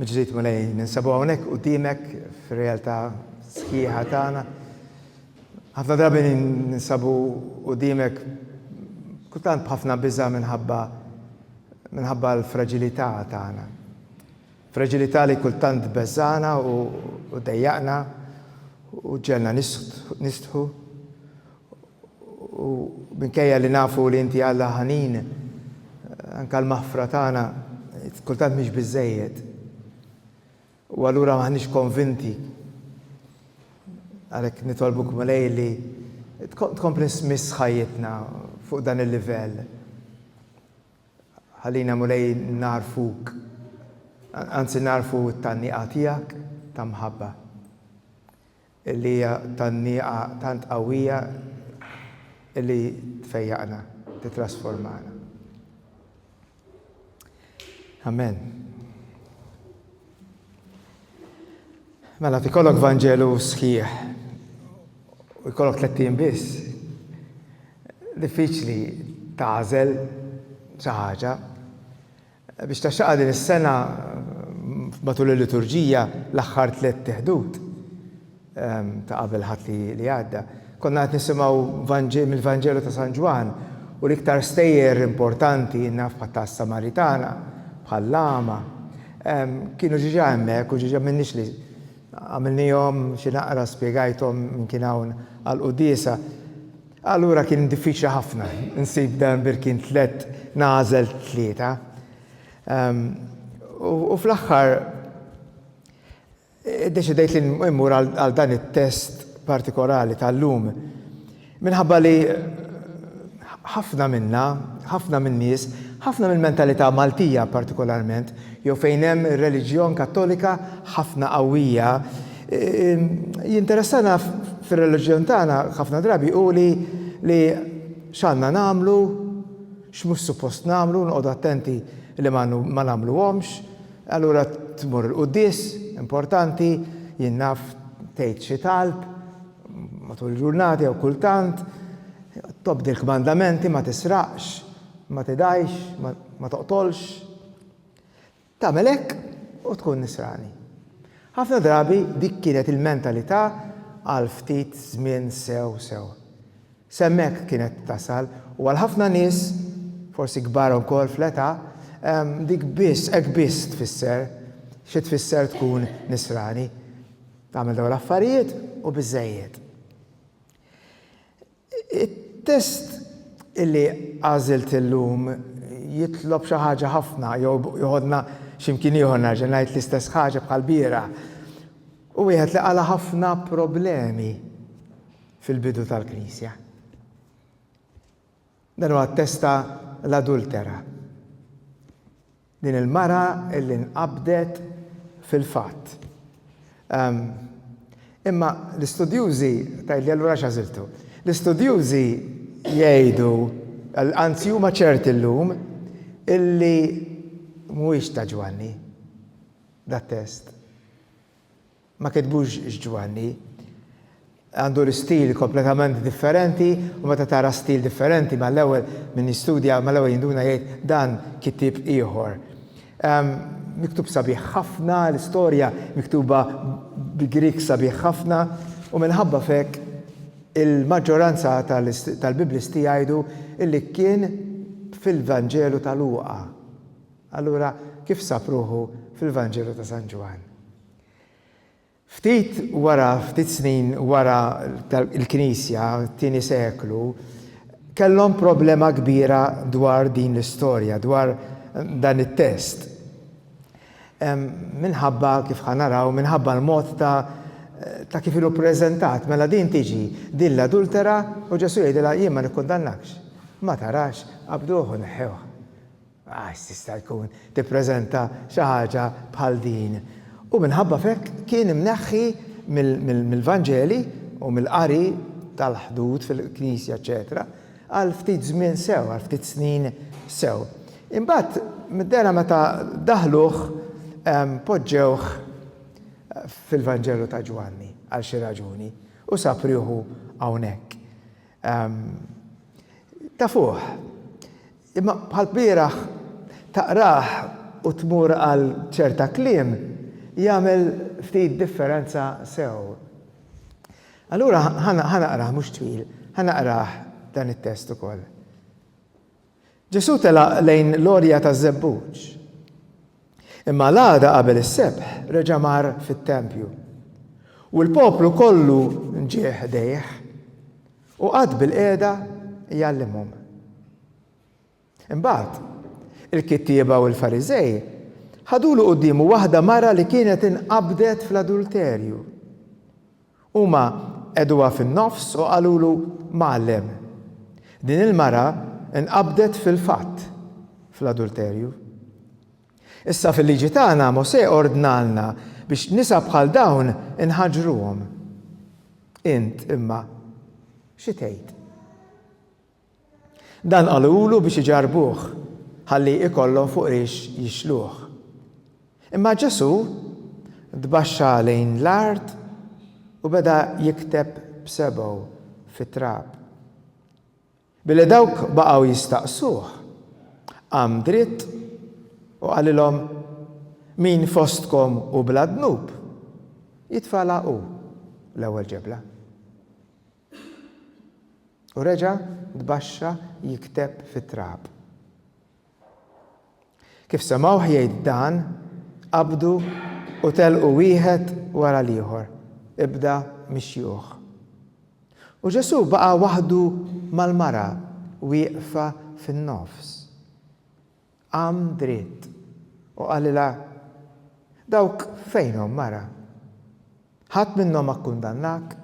Mill-ġdid, Mulej, ninsabu hawnhekk quddiemek fir-realtà sħiħa tagħna. Ħafna drabi ninsabu quddiemek kultant b'ħafna biża' minħabba minħabba l-fraġilità tagħna. Fraġilità li kultant beżżana u dejjaqna u ġelna nistħu U minkejja li nafu li Inti Alla ħanin, anke l-maħfra tagħna kultant mhix biżżejjed. U allura m'aħniex konvinti. Għalhekk nitolbuk, Mulej, li tkompli tmiss ħajjitna fuq dan il-livell. Ħallina, Mulej, nagħrfuk, anzi nagħrfu t-tgħanniqa tiegħek ta' mħabba. li hija tgħanniqa tant qawwija li tfejjaqna, tittrasformana. Amen. Mela, tikollok Vanġelu sħiħ, u jkollok tlettin biss, diffiċli tażel xi ħaġa, Biex taxxaqha din is-sena matul il-liturġija, l-aħħar tliet teħdut ta' qabel Ħadd li għadda, konna qed nisimgħu mill-Vanġelu ta' San Ġwann u l-iktar stejjer importanti, naf bħal ta' Samaritana, bħal l-għama, kienu ġiġa hemmhekk u ġiġa m'inniex li għamilnihom xi naqra spjegajthom min kien hawn għall-quddiesa. Allura kien diffiċli ħafna nsib dan Birkin tliet nagħżel tlieta. U fl-aħħar iddeċidejt li mmur għal dan it-test partikolari tal-lum. Minħabba li ħafna minna, ħafna min-nies, ħafna mill-mentalità Maltija partikolarment, jew fejn hemm ir-reliġjon Kattolika ħafna qawwija, Jinteressana fir-reliġjon tagħna ħafna drabi hu li li x'għandna nagħmlu, x'mhux suppost nagħmlu, noqogħdu attenti li ma ma nagħmluhomx. Allura tmur il-quddies, importanti, jien naf tgħid xi talb matul il-ġurnata jew kultant, tobdi l-kmandamenti ma tisraqx, ma tidgħix, ma toqtolx. Tagħmel hekk u tkun nisrani. Ħafna drabi dik kienet il-mentalità għal ftit żmien sew sew. S'hemmhekk kienet tasal u għal ħafna nies, forsi kbar ukoll fl-età, dik biss, hekk biss tfisser xi tfisser tkun nisrani. Tagħmel dawn l-affarijiet u biżżejjed. It-test li għażilt illum jitlob xi ħaġa ħafna jew joħodna xi mkien ieħor nerġa' ngħid l-istess ħaġa bħall-bieraħ. Hu wieħed li qala' ħafna problemi fil-bidu tal-Knisja. Dan huwa t-test ta' l-adultera. Din il-mara illi nqabdet fil-fatt. Ehm. Imma l-istudjużi, tgħidli allura għax għażiltu. L-istudjużi jgħidu, anzi huma ċerti llum, illi mhuwiex ta' Ġwanni dat-test. Ma kitbux x'Ġwanni għandu l-istil kompletament differenti u meta tara stil differenti mal-ewwel min jistudja mal-ewwel jinduna jgħid dan kittieb ieħor. Miktub sabiħ ħafna, l-istorja miktuba bi Grieg sabiħ ħafna u minħabba f'hekk il-maġġoranza tal-Biblisti jgħidu li kien fil-Vanġelu ta' Luqa. Allura kif sab ruħu fil-Vanġelu ta' San Ġwann? Ftit wara, ftit snin wara l-Knisja, t-tieni seklu, kellhom problema kbira dwar din l-istorja, dwar dan it-test. Minħabba, kif ħa naraw, minħabba l-mod ta' ta' kif ilu ppreżentat, mela din tiġi din l-adultera u Ġesù jgħidilha jien ma nikkundannakx. Ma tarax, qabduh u neħħewh. Għax tista' tkun tippreżenta xi ħaġa bħal din. U minħabba f'hekk kien imneħħi mill-Vanġeli u mill-qari tal-ħdud fil-knisja eċċetera għal ftit żmien sew, għal ftit snin sew. Imbagħad middera meta daħħluh poġġewh fil-Vanġelu ta' Ġwanni għal xi raġuni u sab rieħu hawnhekk. Tafuh, Imma bħall-bieraħ taqrah u tmur għal ċerta kliem jagħmel ftit differenza sew. Allura ħa naqrah mhux twil, ħa naqrah dan it-test ukoll. Ġesù telaq lejn l-għorja taż-żebbuġ. Imma l-għada qabel is-sebħ reġa' mar fit-tempju, u l-poplu kollu ġie ħdejh, u qagħad bilqiegħda jgħallimhom. Imbagħad, il-kittieba u l-Fariżej ħadulu quddiemu waħda mara li kienet inqabdet fl-adulterju. Huma qegħduha fin-nofs u qalulu, Mgħallem, din il-mara nqabdet fil-fatt fl-adulterju. Issa fil-Liġi tagħna Mosè ordnalna biex nisa bħal dawn inħaġruhom. Int, imma, xi tgħid? Dan qalulu biex iġarrbuh, ħalli ikollhom fuq rix jixluh. Imma Ġesù tbaxxa lejn l-art u beda jikteb b'sebgħu fit-trab. Billi dawk baqgħu jistaqsuh, qam dritt u qalilhom, Min fostkom hu bla dnub, jitfagħlha hu l-ewwel ġebla. U reġa' tbaxxa jikteb fit-trab. Kif semgħuh jgħid dan, qabdu u telqu wieħed wara l-ieħor, ibda mix-xjuħ. U Ġesù baqa' waħdu mal-mara wieqfa fin-nofs. Qam dritt u qalilha, Dawk fejnhom, mara? Ħadd minnhom ma kkundannak?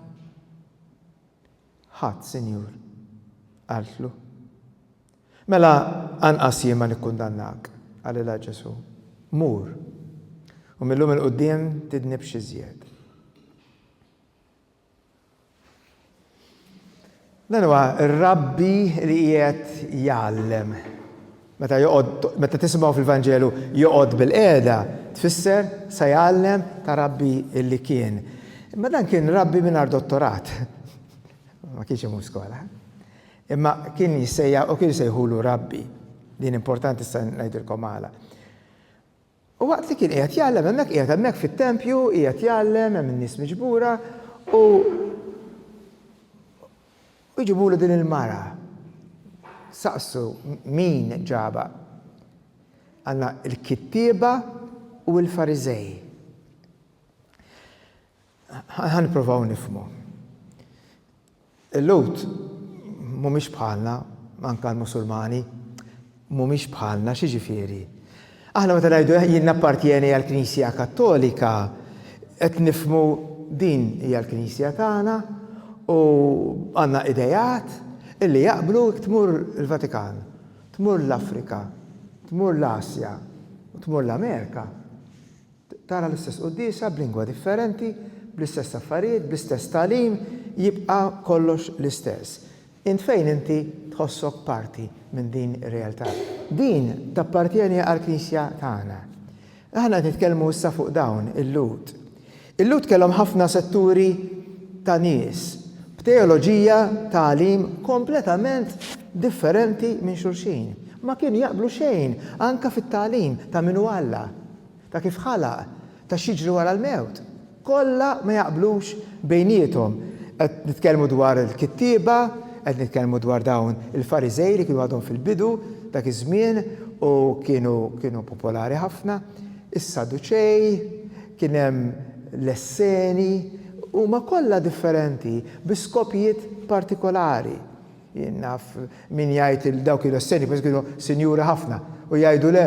Ħadd, Sinjur, qaltlu. Mela anqas jien ma nikkundannak, qalilha Ġesù. Mur, u mil-lum 'il quddiem tidnibx iżjed. Dan huwa r-rabbi li qiegħed jgħallem. Meta joqgħod meta tisimgħu fil-Vanġelu joqgħod bil-qiegħda, tfisser sa jgħallem ta' rabbi li kien. Imma dan kien rabbi mingħajr dottorat. Ma kienx imur skola. Imma kien jissejja u kien jsejħulu rabbi. Din importanti sa ngħidilkom għala. U waqt li kien qiegħed jgħallem hemmhekk, qiegħed hemmhekk fit-tempju, qiegħed jgħallem, hemm in-nies miġbura, u u jġibulu din il-mara. Saqsu min ġabha. Għandna l-kittieba u l-Fariżej. Ħa nipprovaw nifhmu. Il-Lhud mhumiex bħalna, anke l-Musulmani, mhumiex bħalna, xi ġifieri? Aħna meta ngħidu eh, jien nappartjeni għall-Knisja Kattolika, qed nifmu din hija l-Knisja tagħna u għandna idejat illi jaqblu tmur il-Vatikan, tmur l-Afrika, tmur l-Asja u tmur l-Amerika. Tara l-istess quddiesa b'lingwa differenti, bl-istess affarijiet, bl-istess tagħlim, jibqa' kollox l-istess. Int fejn inti tħossok parti minn din ir-realtà? Din tappartjeni għall-Knisja tagħna. Aħna qed nitkellmu issa fuq dawn, il-Lhud. Il-Lhud kellhom ħafna setturi ta' nies, b'teoloġija, tagħlim kompletament differenti minn xulxin. Ma kienu jaqblu xejn anke fit-tagħlim ta' min hu Alla. Ta' kif ħalaq, ta' x'jiġri wara l-mewt. Kollha ma jaqblux bejniethom. Qed nitkellmu dwar il-kittieba, qed nitkellmu dwar dawn il-Fariżej li kienu għadhom fil-bidu dak iż-żmien u kienu kienu popolari ħafna, is-Saduċej, kien hemm l-Esseni, huma kollha differenti bi skopijiet partikolari. Jien naf min jgħid li dawk kienu s-senjuri, forsi kienu sinjuri ħafna, u jgħidu, Le,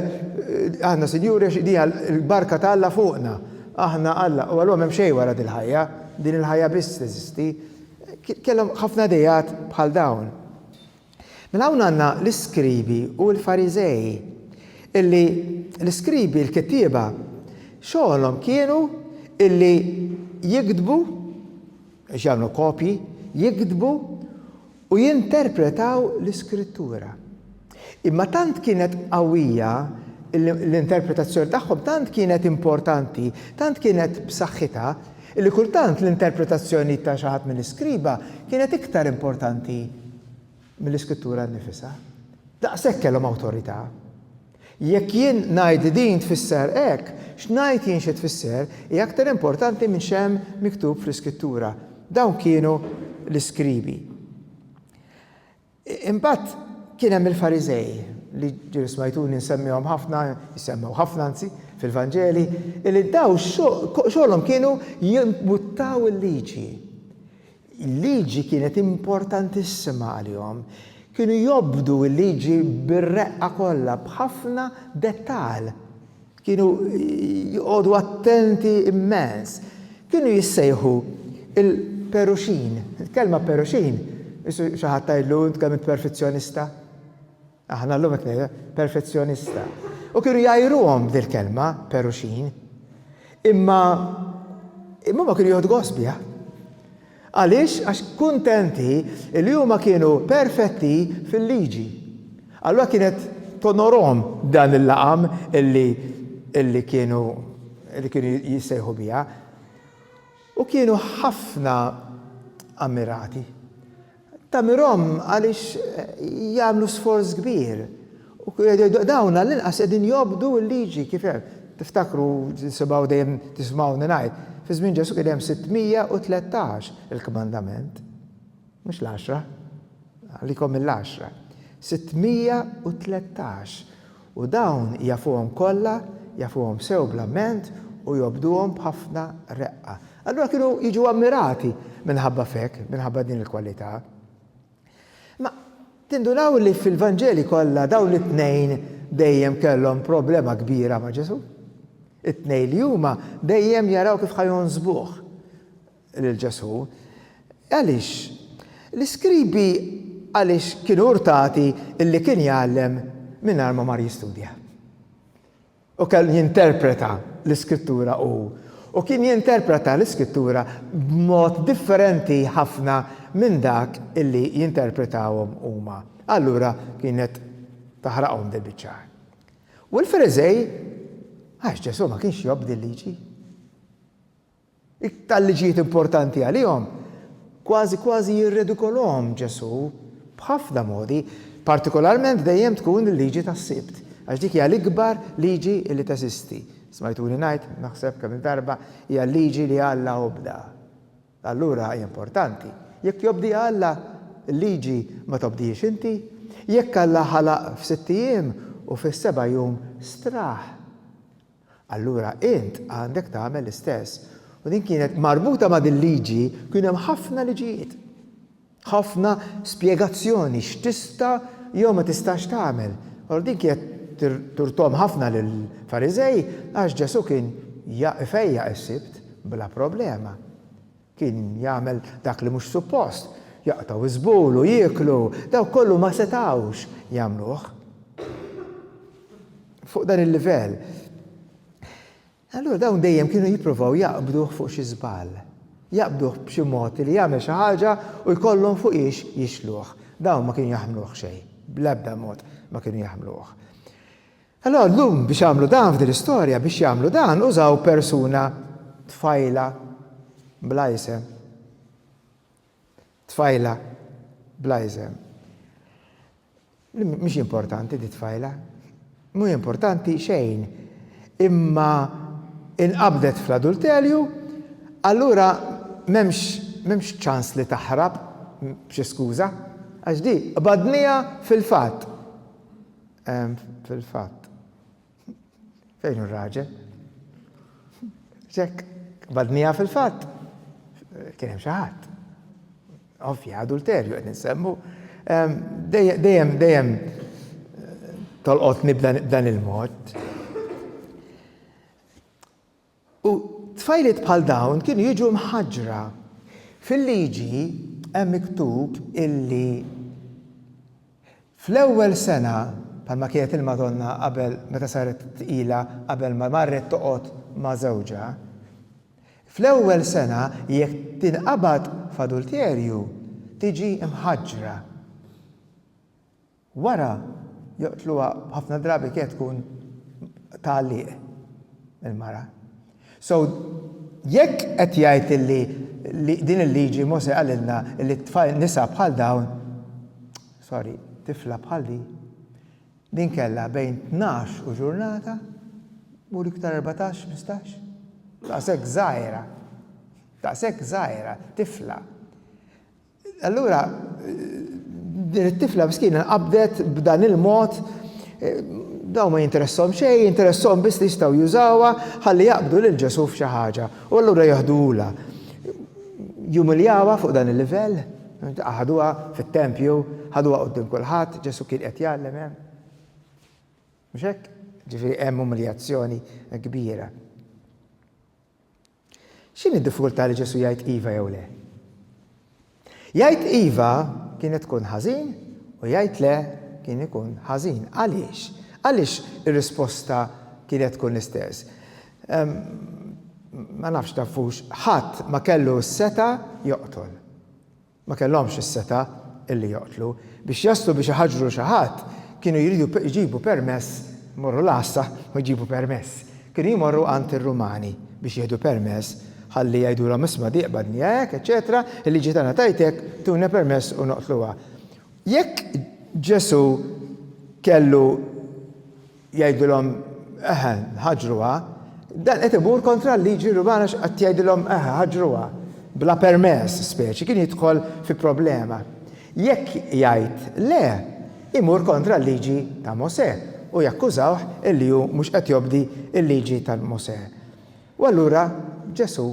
aħna sinjuri għax din hija l-barka ta' Alla fuqna. Aħna Alla, u għalihom m'hemm xejn wara dil-ħajja, din il-ħajja biss teżisti. Kellhom ħafna ideat bħal dawn. Mela hawn għandna l-iskribi u l-Fariżej, illi l-iskribi, l-kittieba, xogħolhom kienu illi jiktbu Ġagħlu kopji, jiktbu u jinterpretaw l-Iskrittura. Imma tant kienet qawwija l-interpretazzjoni tagħhom, tant kienet importanti, tant kienet b'saħħitha, li kultant l-interpretazzjoni ta' xi ħadd mill-iskriba kienet iktar importanti mill-Iskrittura nnifisha. Daqshekk kellhom awtorità. Jekk jien ngħid li din tfisser hekk, x'ngħid jien xi tfisser hi aktar importanti minn x'hemm miktub fl-Iskrittura. Dawn kienu l-iskribi. Imbagħad kien hemm il-Fariżej, li ġieli smajtuni nsemmihom ħafna, jissemmew ħafna anzi, fil-Vanġeli, illi dawn xogħolhom kienu jimbuttaw il-liġi. Il-liġi kienet importantissima għalihom. Kienu jobdu l-liġi bir-reqqa kollha, b'ħafna dettall. Kienu joqogħdu attenti immens. Kienu jissejħu l-peruxin. Il-kelma peruxin, xi ħadd tgħidlu, Int kemm int perfizzjonista! Aħna llum hekk ngħidu, perfezzjonista. U kienu jgħajruhom b'dil-kelma, peruxin. Imma imma huma kienu jieħdu gost biha. Għaliex għax kuntenti li huma kienu perfetti fil-liġi. Allura kienet tonorhom dan il-laqam illi illi kienu li kienu jissejħu biha. U kienu ħafna ammirati Tagħmirhom għaliex jagħmlu sforz kbir. Dawn għall-inqas qegħdin jobdu l-liġi kif hemm. Tiftakru, tisimgħu dejjem tismgħuni ngħid, fi żmien Ġesù kien hemm 613 il-kmandament. Mhux l-għaxra. Għalikom mill-għaxra. 613. U dawn jafuhom kollha, jafuhom sew bla ment u jobduhom b'ħafna reqqa. Allura kienu jiġu ammirati minħabba f'hekk, minħabba din il-kwalità. Imma tindunaw li fil-Vanġeli kollha dawn it-tnejn dejjem kellhom problema kbira ma' Ġesù? It-tnejn li huma dejjem jaraw kif ħa jonżbuh. lil Ġesù, Għaliex? L-iskribi għaliex kienu urtati illi kien jgħallem mingħajr ma mar jistudja? U kellu jinterpreta l-Iskrittura hu, u kien jinterpreta l-Iskrittura b'mod differenti ħafna minn dak illi jinterpretawhom huma. Allura kienet taħraqhom dil biċċar. U l-Fariżej għax Ġesù ma kienx jobdi l-liġi. Iktar li ġiet importanti għalihom, kważi kważi jirredikoluhom Ġesù b'ħafna modi, partikolarment dejjem tkun il-liġi tas-Sibt, għax dik hija l-ikbar liġi li teżisti. Smajtuni ngħid, naħseb, kemm-il darba, hija l-liġi li Alla obda. Allura hi importanti. Jekk jobdiha Alla, il-liġi ma tobdihiex inti? Jekk Alla ħalaq f'sitt ijiem u fis-seba' jum straħ. Allura int għandek tagħmel l-istess. U din kienet marbuta ma' dil-liġi, kien hemm ħafna liġijiet. Ħafna spjegazzjoni x'tista' jew ma tistax tagħmel. Allura din kienet turtom ħafna lill-Fariżej għax Ġesù kien ifejjaq is-Sibt bla problema. Kien jagħmel dak li mhux suppost, jaqtgħu żbul u jieklu, dawk kollu ma setgħux jagħmluh fuq dan il-livell. Allura dawn dejjem kienu jippruvaw jaqbduh fuq xi żball. Jaqbduh b'xi mod li jagħmel xi ħaġa u jkollhom fuq hiex jixluh. Dawn ma kienu jaħmluh xejn, bl-ebda mod ma kienu jaħmluh. Allura llum biex għamlu dan f'din l-istorja, biex jagħmlu dan użaw persuna tfajla bla isem. Tfajla bla isem. Mhix importanti di tfajla. Mhu importanti xejn. Imma inqabdet fl-adulterju, allura m'hemmx ċans li taħrab b'xi skuża, għax di qbadniha fil-fatt. Fil-fatt. Fejn hu r-raġel? Ċekk, badnija fil-fatt. Kien hemm xi ħadd. Ovvja, adulterju qed insemmu. Dejjem, dejjem tolqotni b'dan il-mod. U tfajliet bħal dawn kienu jiġu mħaġġra. Fil-Liġi hemm miktub illi fl-ewwel sena, bħalma kienet il-Madonna qabel meta saret tqila qabel ma marret toqgħod ma' żewġha, fl-ewwel sena jekk tinqabad f'adulterju tiġi mħaġġra. Wara joqtluha ħafna drabi kienet tkun tagħliq il-mara. So jekk qed jgħid illi li din il-liġi Mosè qalilna illi t-tfal nisa bħal dawn, sorry, tifla bħal din, din kellha bejn tnax u ġurnata, mur iktar erbatax, ħmistax, daqshekk żgħira, daqshekk żgħira, tifla. Allura din it-tifla miskina nqabdet b'dan il-mod dawn ma jinteressahom xejn, jinteressahom biss li jistgħu jużawha ħalli jaqbdu lil Ġesù f'xi ħaġa u allura jeħduhulha. Jumiljawha fuq dan il-livell, ħaduha fit-tempju, ħaduha quddiem kulħadd, Ġesù kien qed jgħallem hemm. Mhux hekk? Ġifieri hemm umiljazzjoni kbira. X'inhi d-diffikultà li Ġesù jgħid iva jew le? Jgħid iva kienet tkun ħażin u jgħid le kien ikun ħażin. Għaliex? Għaliex ir-risposta kienet tkun l-istess? Ma nafx tafux, ħadd ma kellu s-setgħa joqtol. Ma kellhomx is-setgħa illi joqtlu. Biex jaslu biex iħaġġru xi ħadd, kienu jridu jġibu permess, imorru l-għassa u jġibu permess. Kienu jmorru għand ir-Rumani biex jieħdu permess ħalli jgħidulhom isma' di qbadni hekk, eċċetera, il-liġi tagħna tgħid hekk, tuna permess u noqtluha. Jekk Ġesù kellu jgħidilhom eħe ħaġruha, dan qed imur kontra l-liġi Rumana x'qed jgħidilhom eħe ħaġruha bla permess speċi kien jidħol fi problema. Jekk jgħid le, imur kontra l-liġi ta' Mosè u jakkużawh illi hu mhux qed jobdi l-liġi ta' Mosè. U allura Ġesù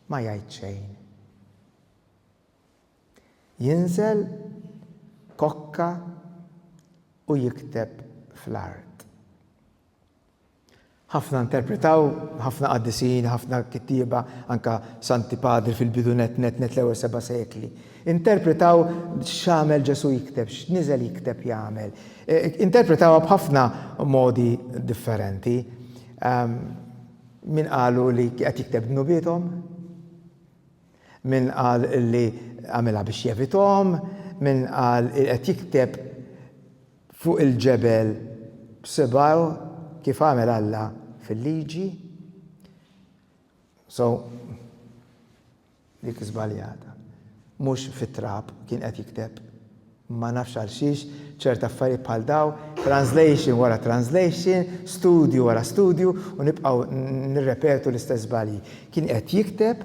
ma jgħid xejn. Jinżel kokka u jikteb fl-art. Ħafna interpretaw, ħafna qaddisin, ħafna kittieba, anke Santi Padri fil-bidu nett nett nett l-ewwel seba' sekli, interpretaw x'għamel Ġesù jikteb, x'niżel jikteb jagħmel. Interpretawha b'ħafna modi differenti. Min qalu li qed jikteb dnubiethom. Min qal li għamilha biex jevithom, min qal li qed jikteb fuq il-ġebel b'sibgħu kif għamel Alla fil-Liġi. So, dik żbaljata. Mhux fit-trab kien qed jikteb. Ma nafx għalxiex ċert affarijiet bħal dawn, translation wara translation, studju wara studju u nibqgħu nirrepetu l-istess żbalji. Kien qed jikteb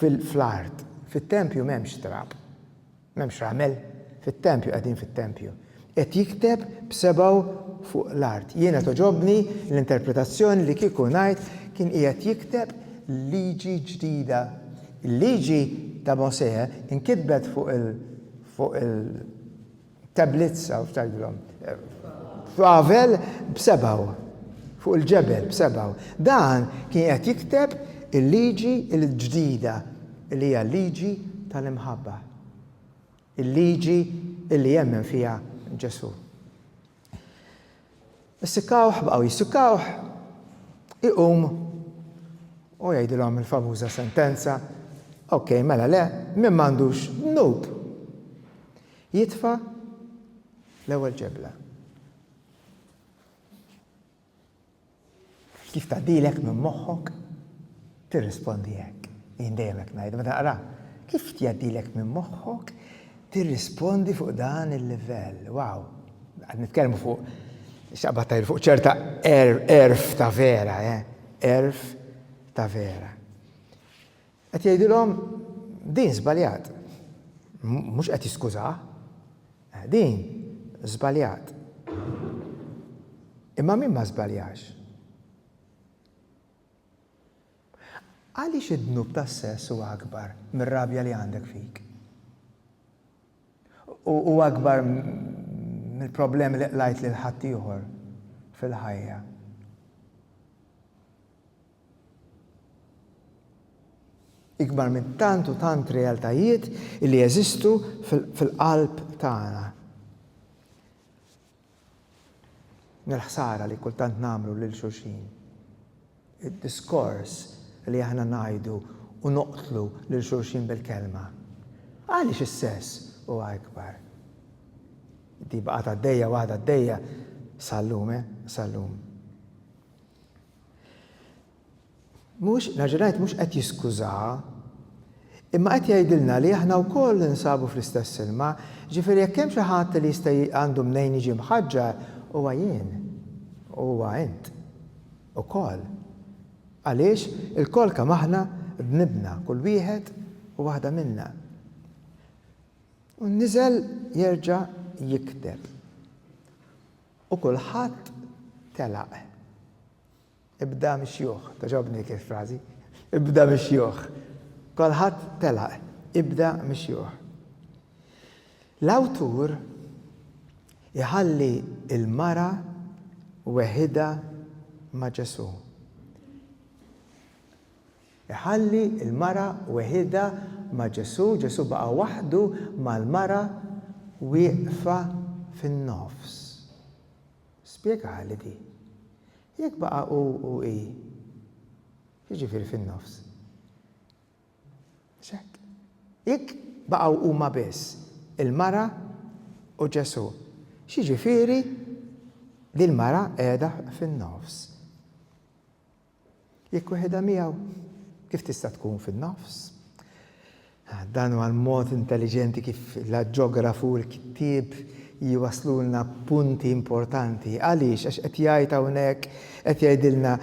fl-art. Fit-tempju m'hemmx trab. M'hemmx ramel. Fit-tempju qegħdin fit-tempju. Qed jikteb b'sebgħu fuq l-art. Jiena togħġobni l-interpretazzjoni li kieku ngħid kien qiegħed jikteb liġi ġdida. Il-liġi ta' Mosè inkitbet fuq il- fuq il-tablets hawn f'Tagħilhom. Pavel b'sebaw, fuq il-ġebel b'sebaw. Dan kien qed jikteb il-liġi l-ġdida li hija l-liġi tal-imħabba. Il-liġi li jemmen fiha Ġesu. Issikkawh, baqgħu jissikkawh, iqum u jgħidilhom il-famuża sentenza, ok, mela le, min m'għandux dnub jitfa' l-ewwel ġebla. Kif tgħaddilek minn moħħok tirrispondi hekk? Jien dejjem hekk ngħid meta naqra. Kif tgħaddilek minn moħħok tirrispondi fuq dan il-livell? Wow! Qed nitkellmu fuq xaqbad tajr fuq ċerta erf ta' vera, eh? Erf ta' vera. Qed jgħidilhom, Din żbaljat. Mhux qed jiskużah. Din żbaljat. Imma min ma żbaljax? Għaliex id-dnub tas-sess huwa akbar mir-rabja li għandek fik? U huwa akbar mill-problemi li qlajt lil ħaddieħor fil-ħajja? Ikbar minn tant u tant realtajiet li jeżistu fil-qalb tagħna. Mill-ħsara li kultant nagħmlu lil xulxin. Id-diskors li aħna ngħidu u noqtlu lil xulxin bil-kelma. Għaliex is-sess huwa ikbar? Di baqgħet għaddejja u għadha għaddejja sal-lum, eh, sal-lum. Mhux, nerġa' ngħid, mhux qed jiskużaha, imma qed jgħidilna li aħna wkoll ninsabu fl-istess ilma, jiġifieri jekk hemm xi ħadd li jista' għandu mnejn jiġi mħaġġar, huwa jien, u huwa int ukoll. Għaliex, ilkoll kemm aħna dnibna, kull wieħed u waħda minna. U niżel jerġa' jikteb. U kulħadd telaq. Ibda mix-xjuħ. Togħġobni kif frażi. Ibda mix-xjuħ. Kulħadd telaq. Ibda mix-xjuħ. L-awtur iħalli l-mara weħidha ma' Ġesù. Iħalli l-mara weħidha ma' Ġesù, Ġesù baqa' waħdu mal-mara wieqfa fin-nofs. Spjegaha li di. Jekk baqa' hu u hi, x'jiġifieri fin-nofs? Mhux hekk? Jekk baqgħu huma biss, il-mara u Ġesù, x'jiġifieri li l-mara qiegħda fin-nofs? Jekk weħidha miegħu, kif tista' tkun fin-nofs? Dan huwa l-mod intelliġenti kif l-aġġografu u l-kittieb jwasslulna punti importanti. Għaliex? Għax qed jgħid hawnhekk, qed jgħidilna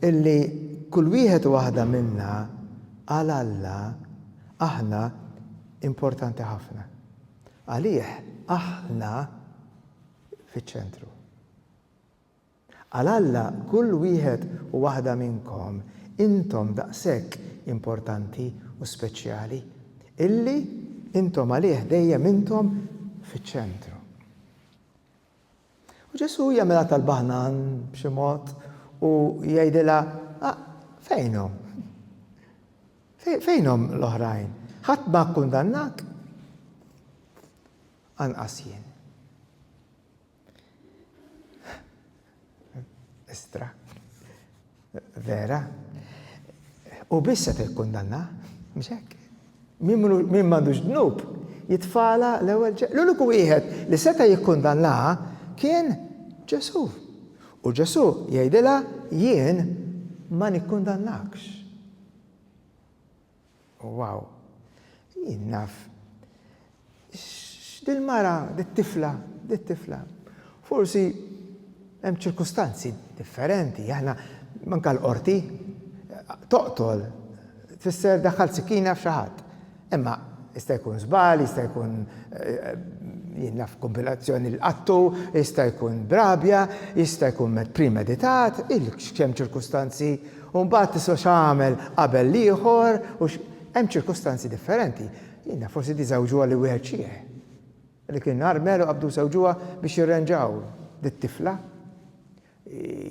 illi kull wieħed u waħda minna għal Alla aħna importanti ħafna. Għalih aħna fiċ-ċentru. Għal Alla kull wieħed u waħda minnkom intom daqshekk importanti u speċjali, illi intom għalih dejjem intom fiċ-ċentru. U Ġesù jagħmilha talba ħnan b'xi mod u jgħidilha, ah, fejnhom? Fejnhom l-oħrajn? Ħadd ma kkundannak? Anqas jien. Estra. Vera. U biss se tikkundanna, mhux hekk. Min m'għandux dnub jitfala l-ewwel L-uniku wieħed li seta' jikkundanna kien Ġesù. U Ġesù jgħidilha jien ma nikkundannakx. Wow! Jien naf x'dil-mara, dit-tifla, dit-tifla. Forsi hemm ċirkustanzi differenti. Aħna manka l-qorti toqtol tfisser daħħalt sikkina f'xi ħadd. Imma jista' jkun żball, jista' jkun jien naf kombinazzjoni l-qattu, jista' jkun b'rabja, jista' jkun premeditat, il-x'kemm ċirkustanzi U mbagħad tistgħu x'għamel qabel l-ieħor u x'. Hemm ċirkustanzi differenti. Jiena forsi di żewġuha li wieħed xieħ. Dik in-nhar Mel u Abdu żewġuha biex jirrenġaw lit-tifla.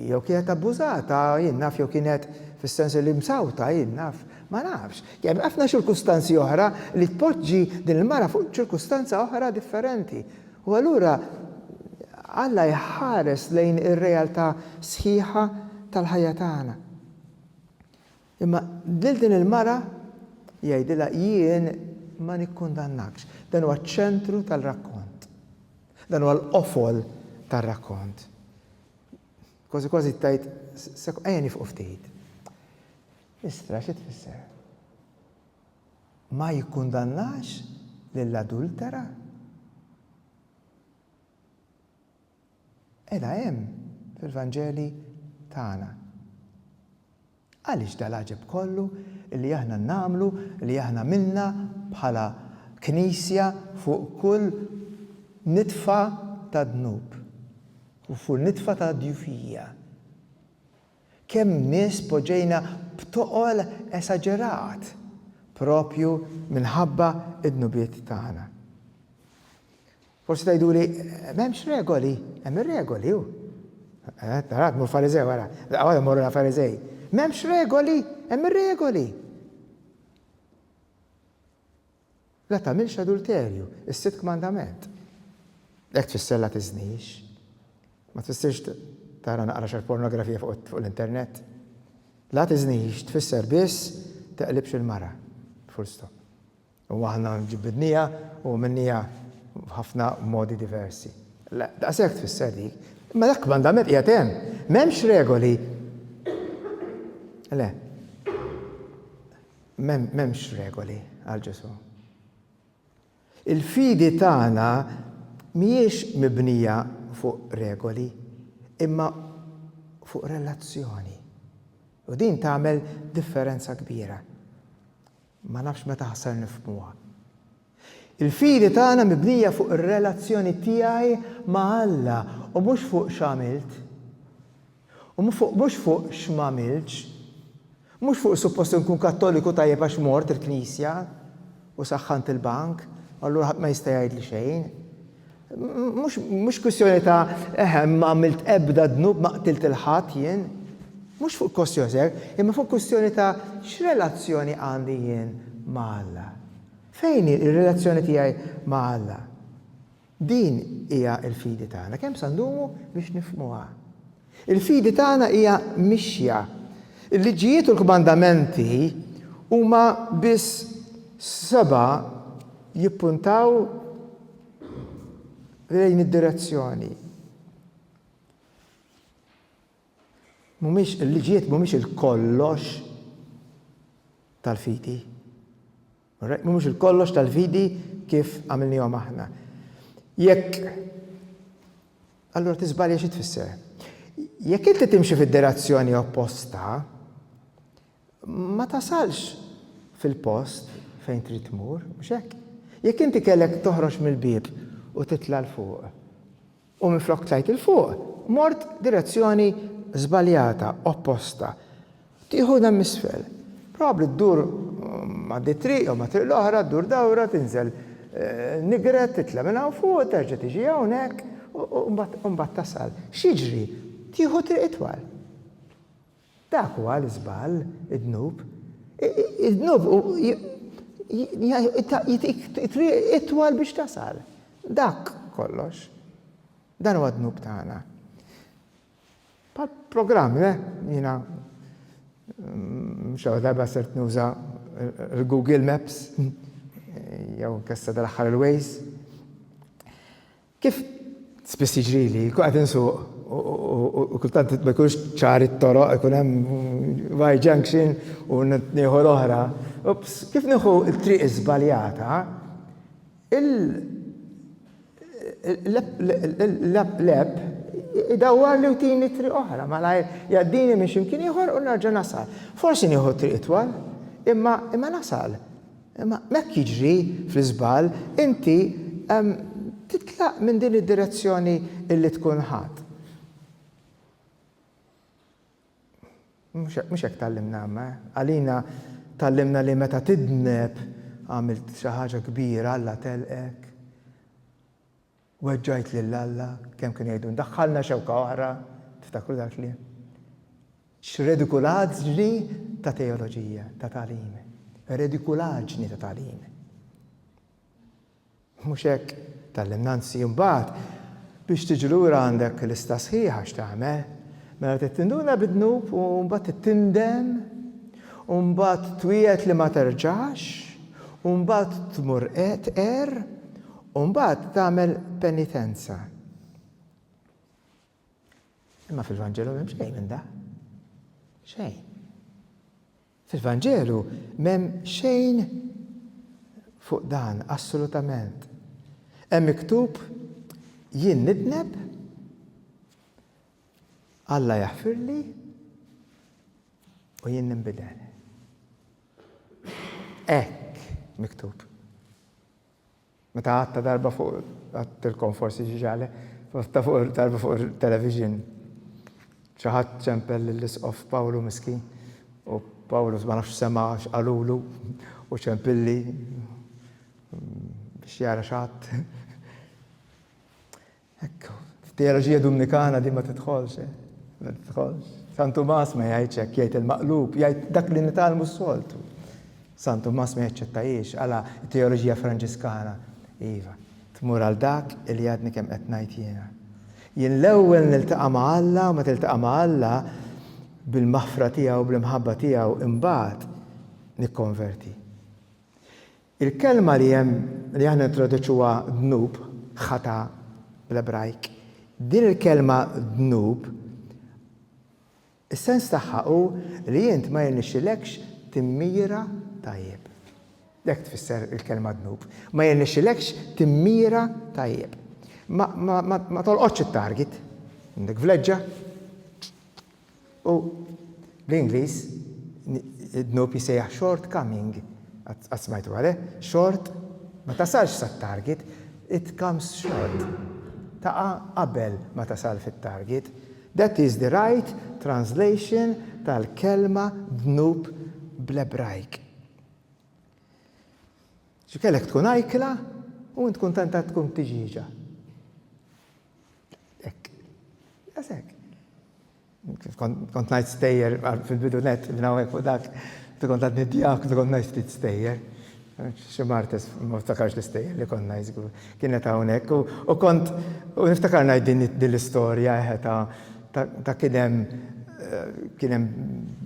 Jew kienet abbużata, jien naf jew kienet fis-sens li msawta, jien naf. Ma nafx. Hemm ħafna ċirkustanzi oħra li tpoġġi din il-mara fuq ċirkustanza oħra differenti. U allura Alla jħares lejn ir-realtà sħiħa tal-ħajja tagħna. Imma lil din il-mara jgħidilha, Jien ma nikkundannakx. Dan huwa ċ-ċentru tal-rakkont. Dan huwa l-qofol tar-rakkont. Kważi kważi tgħid, ejja nifqu ftit. Istra xi tfisser? Ma jikkundannax lill-adultera? Qiegħda hemm fil-Vanġeli tagħna. Għaliex dal-għaġeb kollu li aħna nagħmlu, li aħna għamilna bħala Knisja fuq kull nitfa ta' dnub u fuq nitfa ta' djufija? Kemm nies poġġejna b'toqol esaġerat proprju minħabba d-dnubiet tagħna. Forsi tgħiduli, M'hemmx regoli. Hemm ir-regoli, hu. Tara, tmur Fariżew, ara, laqgħu għadhom morru Fariżej. M'hemmx regoli, hemm ir-regoli. La tagħmilx adulterju, is-sitt kmandament. Hekk tfisser la tiżnix. Ma tfissirx tara naqra xi pornografija fuq l-internet. La tiżnix tfisser biss teqlibx il-mara. Full stop. U aħna ġibbidniha u għamilniha f'ħafna modi diversi. Le, daqshekk tfisser dik. Imma dak kmandament qiegħed hemm. M'hemmx regoli. Le. M'hemmx regoli għal Ġesù. Il-fidi tagħna mhijiex mibnija fuq regoli, imma fuq relazzjoni. U din tagħmel differenza kbira. Ma nafx meta ħa ser nifhmuha. Il-fidi tagħna mibnija fuq ir-relazzjoni tiegħi ma' Alla u mhux fuq x'għamilt. U mhux fuq x'm'għamiltx. Mhux fuq suppost inkun Kattoliku tajjeb għax mort il-Knisja u saħħant il-bank u allura ħadd ma jista' jgħidli xejn. Mhux kwistjoni ta' eħe m'għamilt ebda dnub ma qtilt 'il ħadd jien. Mhux fuq kwostjoni ta' hekk, imma fuq kwistjoni ta' x'relazzjoni għandi jien ma' Alla. Fejn hi r-relazzjoni tiegħi ma' Alla? Din hija l-fidi tagħna. Kemm sa ndumu biex nifhmuha? Il-fidi tagħna hija mixja. Il-liġijiet u l-kmandamenti huma biss seba' jippuntaw lejn id-direzzjoni. Mhumiex, il-liġijiet mhumiex il-kollox tal-fidi. Alright? Mhumiex il-kollox tal-fidi kif għamilnihom aħna. Jekk allura tiżbalja xi tfisser. Jekk inti timxi fid-direzzjoni opposta, ma tasalx fil-post fejn trid tmur, mhux hekk. Jekk inti kellek toħroġ mill-bib u titla' l fuq, U minflok tlajt 'il fuq, mort direzzjoni żbaljata, opposta. Tieħu demm isfel. Probabbli ddur għaddi t-triq jew ma' triq l-oħra, ddur dawra, tinżel Nigret, titla' minn hawn fuq, terġa' tiġi hawnhekk u mbagħad tasal. X'jiġri? Tieħu triq itwal. Dak huwa l-iżball, id-dnub. Id-dnub jagħtik triq itwal biex tasal. Dak kollox. Dan huwa d-dnub tagħna. Bħall-programm, le? Jiena xi darba sirt nuża l-Google Maps jew inkella sa dal-aħħar il-Waze. Kif spiss jiġrili, nkun qed insuq u kultant ma jkunx ċar it-toroq, ikun hemm Y junction u nieħu l-oħra, ups, kif nieħu t-triq iżbaljata, l-app idawwarli u tini triq oħra malajr, jgħaddini minn xi mkien ieħor u nerġa' nasal. Forsi nieħu t-triq itwal, imma nasal. Imma hekk jiġri fl-iżball, inti titlaq minn din id-direzzjoni li tkun ħadt. Mhux hekk tgħallimna Alla, eh? Għalina tgħallimna li meta tidneb għamilt xi ħaġa kbira Alla telqek. Weġġajt lil Alla, kemm kienu jgħidu, Daħħalna xewka oħra, tiftakru dal-kliem? X'redikulaġni ta' teoloġija, ta' tagħlim. Redikulaġni ta' tagħlim. Mhux hekk, tallimna anzi mbagħad biex tiġi lura għandek lista sħiħa x'tagħmel. Mela trid tinduna bid-dnub u mbagħad tindem u mbagħad twiegħed li ma terġax u mbagħad tmur qed er U mbagħad tagħmel penitenza. Imma fil-Vanġelu m'hemm xejn minn da. Xejn. Fil-Vanġelu m'hemm xejn fuq dan assolutament. Hemm miktub jien nitneb Alla jaħfirli u jien ninbidel. Ek miktub. Meta għadta darba fuq, għadtilkom forsi xi xagħle, għadta fuq darba fuq it-television xi ħadd ċempel lill-Isqof Pawlu miskin u Pawlu ma nafx sema' x'qalulu u ċempilli biex jara x'għadt. Hekk, f'teoloġija Dumnikana din ma tidħolx, eh? Ma tidħolx. San Tumas ma jgħidx hekk, jgħid il-maqlub, jgħid dak li nitgħallmu s-soltu. San Tumas ma jaċċettajiex għala t-teoloġija Franġiskana. Iva, tmur għal dak li għadni kemm qed ngħid jiena. Jien l-ewwel niltaqa' ma' Alla u meta iltaqa' ma' Alla bil-maħfra tiegħu, bl-imħabba tiegħu, imbagħad nikkonverti. Il-kelma li hemm li aħna nintroduċuha dnub, ħatà bl-Ebrajk. Din il-kelma dnub, is-sens tagħha hu li int ma jirnexxilekx timmira tajjeb. Hekk tfisser il-kelma dnub. Ma jirnexxilekx timmira tajjeb. Ma tolqotx it-target. Għandek vleġġa, U bl-Ingliż id-dnub jissejjaħ short coming. Qatt smajtu għal hekk? Short, ma tasalx sat-target, it comes short. Taqa' qabel ma tasal fit-target. That is the right translation tal-kelma dnub bl-Ebrajk. Xi kellek tkun ajkla u int kuntent għad tkun tiġieġa. Ek. Għasek. Kont najt stejjer fil-bidu net, minnawek u dak, kont għadni djak, kont najt ftit stejjer. Xi martes, ma ftakarx l-istejjer li kont najt zgur. Kienet hawnhekk u kont, u niftakar najt din l-istorja eħe ta' Ta' kien hemm kien hemm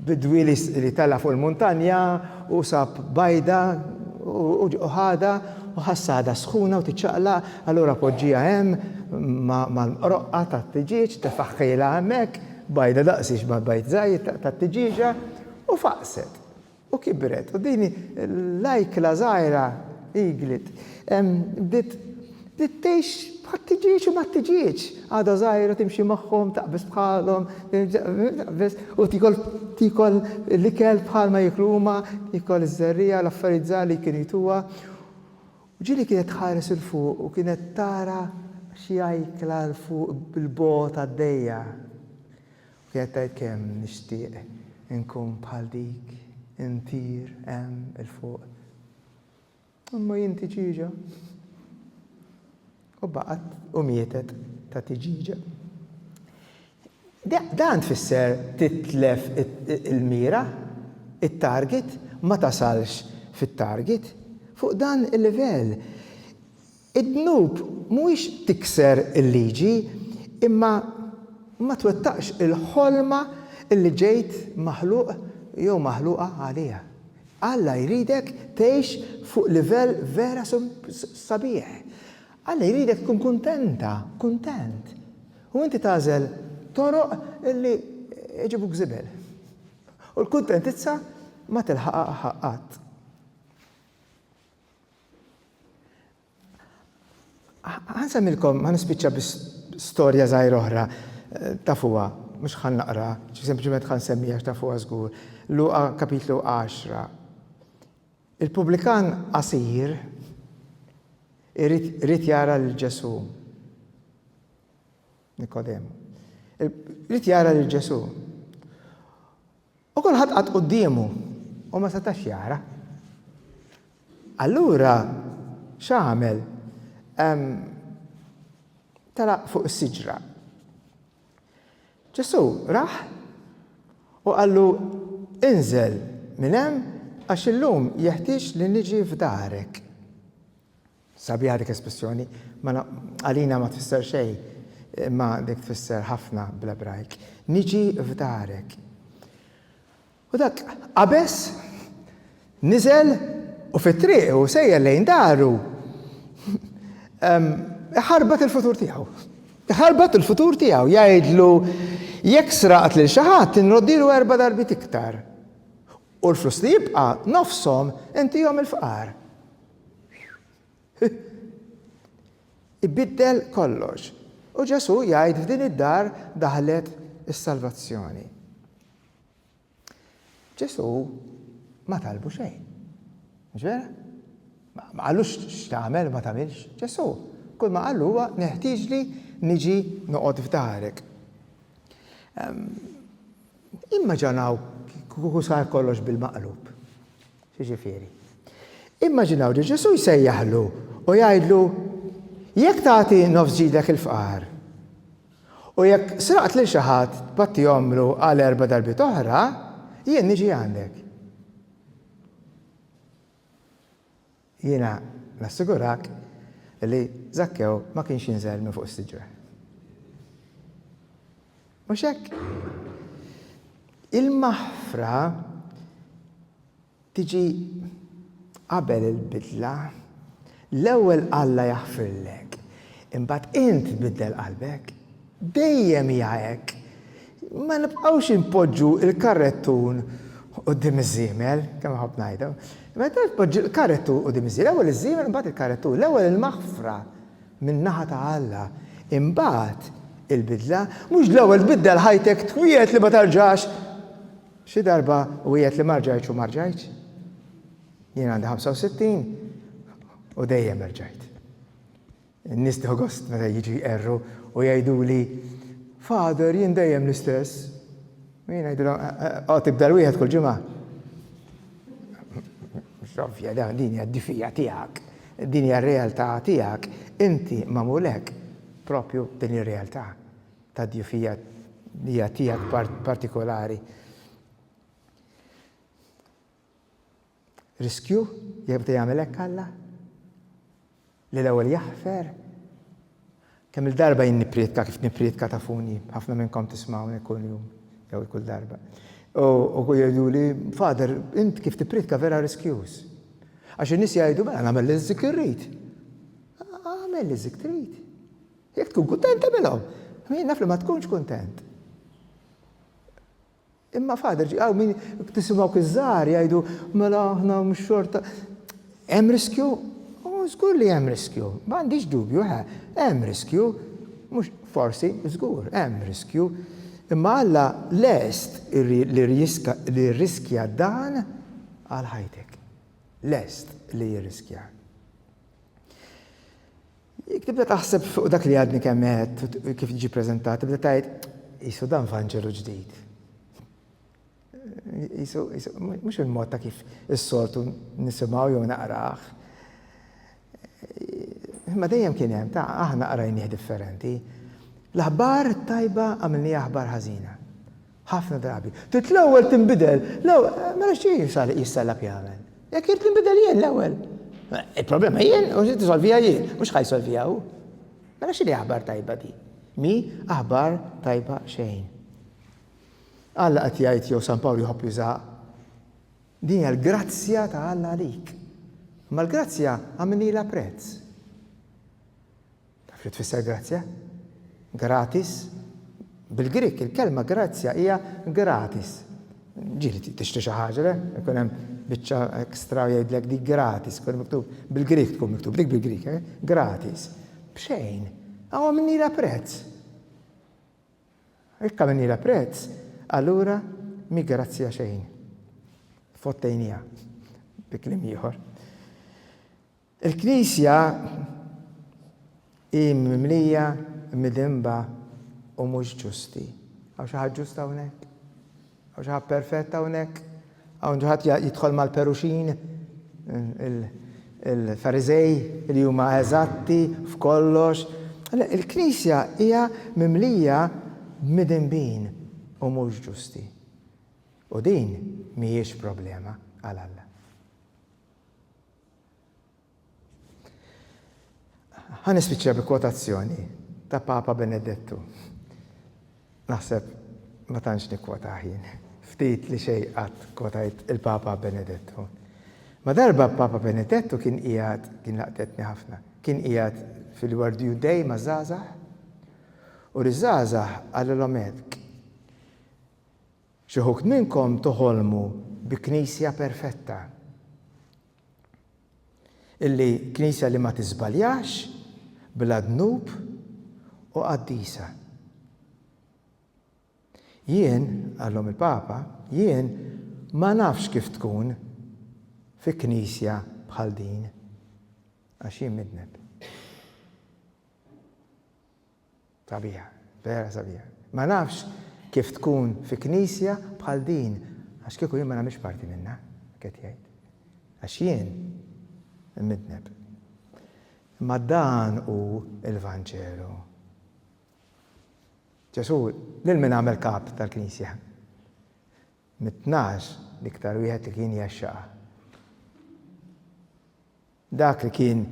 bidwi li tala' fuq il-muntanja u sab bajda u ħadha u ħassha għadha sħuna u tiċċaqlaq, allura poġġieha hemm mal-mqroqqa tat-tiġieġ, tefaħħilha hemmhekk, bajda daqsiex ma' bajd żgħir tat-tiġieġa, u faqset. U kibret, u din l-ajkla żgħira, eaglet, bdiet tgħix bħal tiġieġ u mat-tiġieġ. Għadha żgħira timxi magħhom, taqbeż bħalhom, taqbeż, u tiekol, tiekol l-ikel bħal ma jieklu huma, tiekol iż-żerriegħa, l-affarijiet żgħar li kienu jtuha. U ġieli kienet tħares 'il fuq u kienet tara xi ajkla 'l fuq bil-bogħod għaddejja. Kienet tgħid kemm nixtieq inkun bħal dik, intir hemm 'il fuq. Imma jien tiġieġa. U baqgħet u mietet ta' tiġieġa. Dan tfisser titlef il-mira, it-target, ma tasalx fit-target. Fuq dan il-livell, Id-dnub mhuwiex tikser il-liġi imma ma twettaqx il-ħolma li ġejt maħluq jew maħluqa għaliha. Alla jridek tgħix fuq livell vera sabiħ. Alla jridek tkun kuntenta, kuntent. U inti tagħżel toroq li jġibuk żibel. U l-kuntentizza ma tilħaqha qatt. Ħansemmilkom, ħan nispiċċa bi storja żgħira oħra, tafuha, mhux ħan naqra, sempliċement ħan semmiha għax tafuha żgur. Luqa kapitlu 10. Il-pubblikan qasir irid jara lil Ġesù. Nikodem. Irid jara lil Ġesù. U kulħadd qagħad quddiemu u ma setax jara. Allura x'għamel? Telaq fuq is-siġra. Ġesù rah u qallu, Inżel minn hemm għax illum jeħtieġ li niġi f'darek. Sabiħa dik l-espressjoni. Mela, għalina ma tfisser xejn, imma dik tfisser ħafna bl-Ebrajk. Niġi f'darek. U dak qabeż, niżel u fit-triq u sejjer lejn daru. Iħarbat il-futur tiegħu. Iħarbat il-futur tiegħu jgħidlu jekk sraqt lil xi ħadd inroddilu erba' darbiet iktar. U l-flus li jibqa' nofshom intihom il-fqar. Ibiddel kollox. U Ġesù jgħid f'din id-dar daħlet is-salvazzjoni. Ġesù ma talbu xejn. Mhux vera? Ma qalux x'tagħmel ma tagħmilx. Ġesù kull ma qallu huwa neħtieġli niġi noqgħod f'darek. Ehm, imma ġanaw kieku sar kollox bil-maqlub. X'jiġifieri? Immaġinaw li Ġesù jsejjaħlu u jgħidlu, Jekk tagħti nofs ġidek il-fqar, u jekk sraqt lil xi ħadd tbattihomlu għal erba' darbiet oħra, jien niġi għandek. Jiena nassigurak li Zakkew ma kienx jinżel minn fuq is-siġra. Mhux hekk? Il-maħfra tiġi qabel il-bidla. L-ewwel Alla jaħfirlek, imbagħad int tbiddel qalbek. Dejjem hija hekk. Ma nibqgħux inpoġġu l-karrettun quddiem iż-żiemel, kemm nħobb ngħidha. Meta tpoġġi l-karrettun quddiem iż-żiemel, l-ewwel iż-żiemel imbagħad il-karrettun, l-ewwel il-maħfra. min-naħa ta' Alla. Imbagħad, il-bidla, mhux l-ewwel tbiddel ħajtek twiegħed li ma terġax. Xi darba wiegħed li ma rġajtx u ma rġajtx. Jien għandi 65 u dejjem rġajt. Nis tieħu gost meta jiġu jqerru u jgħiduli, Father, jien dejjem l-istess. U jien ngħidilhom, O tibda' l-wieħed kull ġimgħa? Mhux ovvja dan, din hija d-difija tiegħek, din hija r-realtà tiegħek, inti magħmul hekk, proprju b'din ir-realtà tad-djufija li hija tiegħek partikolari. Riskju jekk beda jagħmel hekk Alla? Li l-ewwel jaħfer? Kemm-il darba jien nipprietka kif nipprietka tafuni, ħafna minnkom tismgħuni kull jum jew kull darba. U jgħiduli, Father, int kif tipprietka vera riskjuż. Għax in-nies jgħidu mela nagħmel li zik irrid. Għamel li zik trid. Jekk tkun kuntent tagħmilhom. Jien naf li ma tkunx kuntent. Imma Father, ġi, hawn min, tisimgħu dawk iż-żgħar jgħidu, mela aħna mhux xorta. Hemm riskju? Oh, żgur li hemm riskju. Ma għandix dubju, eħe, hemm riskju. Mhux forsi, żgur, hemm riskju. Imma Alla lest li jirriskja dan għal ħajtek. Lest li jirriskjah. Jekk tibda taħseb fuq dak li għadni kemm għedt u kif ġie ppreżentat, tibda tgħid, qisu dan Vanġelu ġdid. Qisu, qisu, mhux il-mod ta' kif is-soltu nisimgħu jew naqrah. Imma dejjem kien hemm ta' aħna qrajnieh differenti. L-aħbar tajba għamilni aħbar ħażina. Ħafna drabi. Trid l-ewwel tinbidel. Mela x'trid jisal jissellab jagħmel? Jekk irid ninbidel jien l-ewwel. Il-problema jien u x'trid isolviha jien, mhux ħa jsolviha hu. Mela x'inhi aħbar tajba din? Mi aħbar tajba xejn. Alla qed jgħid jew San Pawl jħobb jużaha. Din hija l-grazzja ta' Alla għalik. Ma l-grazzja għamilnilha prezz. Taf li tfisser grazzja? Gratis. Bil-Grieg il-kelma grazzja hija gratis. Ġieli tixtri xi ħaġa, le? Ikun hemm biċċa ekstra jgħidlek dik gratis, ikun miktub bil-Grieg tkun miktub dik bil-Grieg, eh? gratis. B'xejn. Aw minnila prezz. Ikka minnila prezz, allura mi grazzja xejn. Fottejnija, bi kliem ieħor. Il-Knisja hi mimlija midinba u mhux ġusti. Hawn xi ħadd ġust hawnhekk? Hawn xi ħadd perfett hawnhekk? Hawn xi ħadd jidħol mal-Peruxin, il-Fariżej li huma eżatti f'kollox? Le, il-Knisja hija mimlija b'midinbin u mhux ġusti. U din mhijiex problema għal Alla. Ħa nispiċċa bi kwotazzjoni ta' Papa Benedettu. Naħseb ma tantx nikkwotah jien. Ftit li xejn qatt kwotajt il-Papa Benedettu. Ma darba Papa Benedettu kien qiegħed, din laqtetni ħafna, kien qiegħed fil-World Youth Day maż-żgħażagħ u liż-żgħażagħ qalilhom hekk, Xi wħud minnkom toħolmu bi Knisja perfetta, illi Knisja li ma tiżbaljax, bla dnub u qaddisa. Jien, qalhom il-Papa, jien ma nafx kif tkun fi Knisja bħal din, għax jien midneb. Sabiħa, vera sabiħa. Ma nafx kif tkun fi Knisja bħal din għax kieku jien ma nagħmilx parti minnha, qed jgħid. Għax jien imidneb. Imma dan hu l-Vanġelu. Ġesù lil min għamel kap tal-Knisja? Mit-tnax l-iktar wieħed li kien jaxxaqha. Dak li kien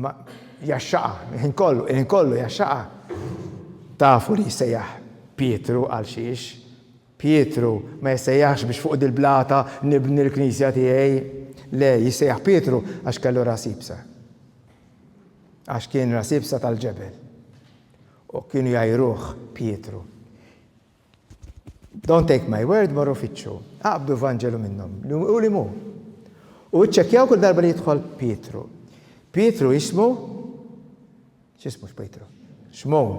ma' jgħaxxaqha il-ħin kollu, il-ħin kollu jgħaxxaqha. Tafu li jissejjaħ Pietru għal xiex? Pietru ma jissejjaħx biex fuq dil-blata nibni l-knisja tiegħi. Le, jissejjaħ Pietru għax kellu ras iebsa. Għax kien ras iebsa tal-ġebel. U kienu jgħajruh Pietru. Don't take my word, morru fittxu. Aqbdu Vanġelu minnhom, li hu li mhu. U iċċekkjaw kull darba li jidħol Pietru. Pietru jismu x'ismu x'Pietru? Xmun.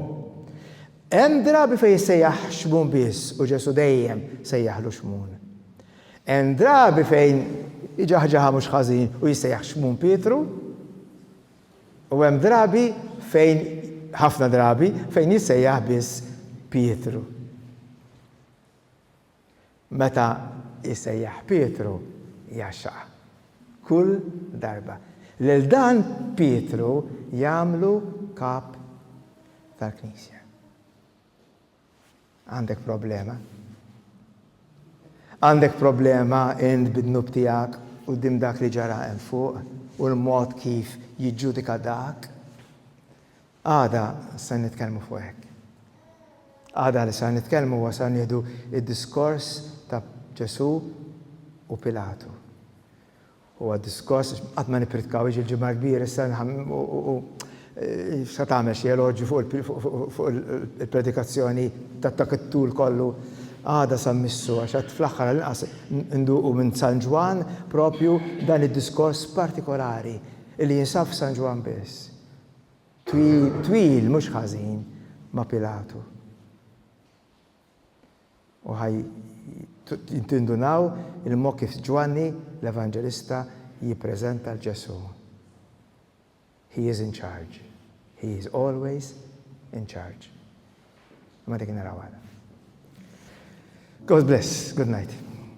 Hemm drabi fejn jissejjaħ xmun biss u Ġesu dejjem sejjaħlu xmun. Hemm drabi fejn iġaħġaħa mhux ħażin u jissejjaħ xmun Pietru. U hemm drabi fejn, ħafna drabi, fejn jissejjaħ biss Pietru. Meta jsejjaħ Pietru, jgħaxxaq. Kull darba. Lil dan Pietru jagħmlu Kap tal-Knisja. Għandek problema. Għandek problema int bid-dnub tiegħek quddiem dak li ġara hemm fuq u l-mod kif jiġġudika dak. Għada se nitkellmu fuq hekk. Għada li se nitkellmu huwa se nieħdu id-diskors ta' Ġesù u Pilatu. Huwa diskors, għax qatt ma nippritkaw, jiġi l-Ġimgħa l-Kbira, issa u sa tagħmel xi eloġju fuq il-predikazzjoni ta' dak it-tul kollu għada sa mmissu, għax għad fl-aħħar għall-inqas induqu minn San Ġwann proprju dan id-diskors partikolari li jinsab f'San Ġwann biss. Twil, twil, mhux ħażin, ma' Pilatu. U ħa tindunaw il-mod kif Ġwanni l-Evanġelista jippreżenta 'l Ġesù, He is in charge. He is always in charge. Imma dik naraw għada. God bless. Good night.